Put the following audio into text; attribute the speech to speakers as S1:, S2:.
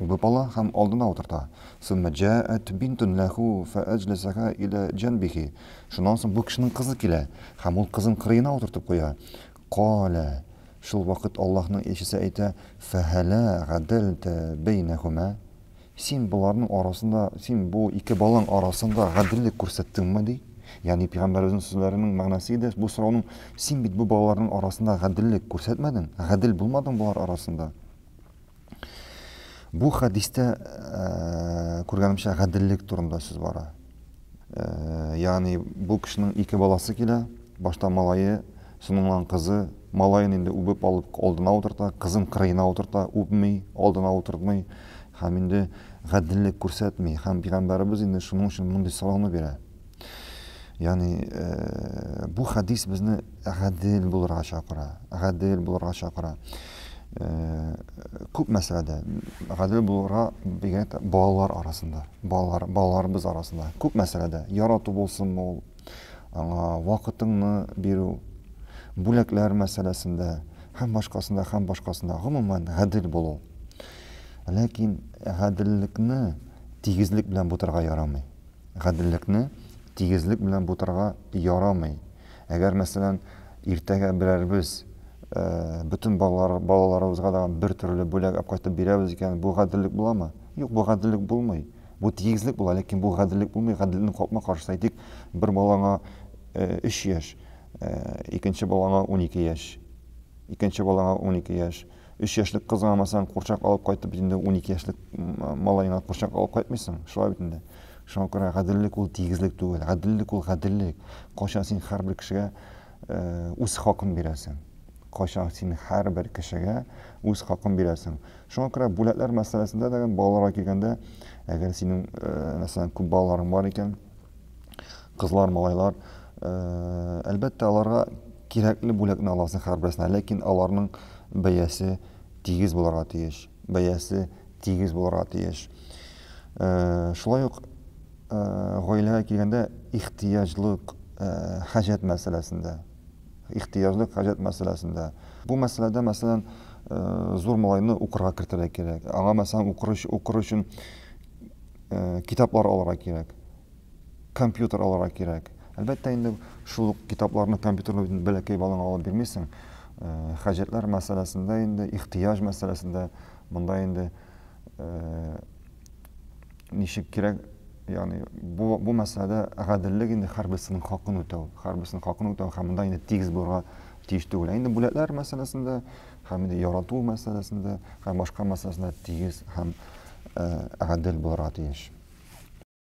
S1: Үбеп ала һәм алдына утырта. Сумма җәәәт бинтун ләһу фәәҗләсәһә илә җәнбиһи. Шуннан соң бу кешенең кызы килә һәм ул кызын кырыена утыртып куя. Каалә. Шул вакыт Аллаһның илчесе әйтә, Фәһәлә гадәлтә бәйнәһүмә? Син боларның арасында, син бу ике балаң арасында гаделлек күрсәттеңме? ди. Ягъни пигамбәребезнең сүзләренең мәгънәсе иде, бу сорауның, Син бит бу балаларның арасында гаделлек күрсәтмәдең, гадел булмадың болар арасында. Бу хәдистә күргәнемчә гаделлек турында сүз бара. Ягъни бу кешенең ике баласы килә, башта малае, соңыннан кызы, малаен инде үбеп алып алдына утырта, кызын кырыена утырта, үпми, алдына утыртмый һәм инде гаделлек күрсәтми. Һәм пигамбәребез инде шуның өчен мондый сорауны бирә. Ягъни э, бу хәдис безне гадел булырга чакыра. Гадел булырга чакыра. Э, күп мәсьәләдә гадел булырга бигрәк тә балалар арасында, балалар балаларыбыз арасында. Күп мәсьәләдә ярату булсын ул, аңа вакытыңны бирү, бүләкләр мәсьәләсендә һәм башкасында, һәм башкасында гомумән гадел булу. Ләкин гаделлекне тигезлек белән бутырга ярамый. Гаделлекне тигезлек белән бутарга ярамый. Әгәр, мәсәлән, иртәгә берәребез бөтен балалар, балаларыбызга да бер төрле бүләк алып кайтып бирәбез икән, бу гаделлек буламы? Юк, бу гаделлек булмый. Бу тигезлек була, ләкин бу гаделлек булмый. Гаделлекнең капма-каршысы, әйтик, бер балаңа 3 яшь, икенче балаңа унике яшь, икенче балаңа унике яшь, Өч яшьлек кызга алмасаң, курчак алып кайтып, инде унике яшьлек малаеңа курчак алып кайтмыйсың. Шулай бит инде. Шуңа күрә гаделлек ул тигезлек түгел. Гаделлек ул гаделлек. Кайчан син һәрбер кешегә үз хакын бирәсең? Кайчан син һәрбер кешегә үз хакын бирәсең? Шуңа күрә бүләкләр мәсьәләсендә дә, балаларга килгәндә, әгәр синең, мәсәлән, күп балаларың бар икән, кызлар малайлар э, әлбәттә аларга кирәкле бүләкне аласың һәрберсенә ләкин аларның бәясе тигез булырга тиеш бәясе тигез булырга тиеш э, шулай ук э, гаиләгә килгәндә ихтыяҗлык хаҗәт мәсьәләсендә ихтыяҗлык хаҗәт мәсьәләсендә бу мәсьәләдә мәсәлән зур малайны укырга кертергә кирәк аңа мәсәлән укыр өчен китаплар алырга кирәк, компьютер алырга кирәк. Әлбәттә инде шул ук китапларны, компьютерны үзен бәләкәй балаңа алып бирмисең. Хаҗәтләр мәсьәләсендә инде, ихтыяҗ мәсьәләсендә монда инде ничек кирәк, ягъни бу бу мәсьәләдә гаделлек инде һәрберсенең хакын үтәү, һәрберсенең хакын үтәү һәм монда инде тигез булырга тиеш түгел. Инде бүләкләр мәсьәләсендә һәм инде ярату мәсьәләсендә һәм башка мәсьәләсендә тигез һәм гадел булырга тиеш.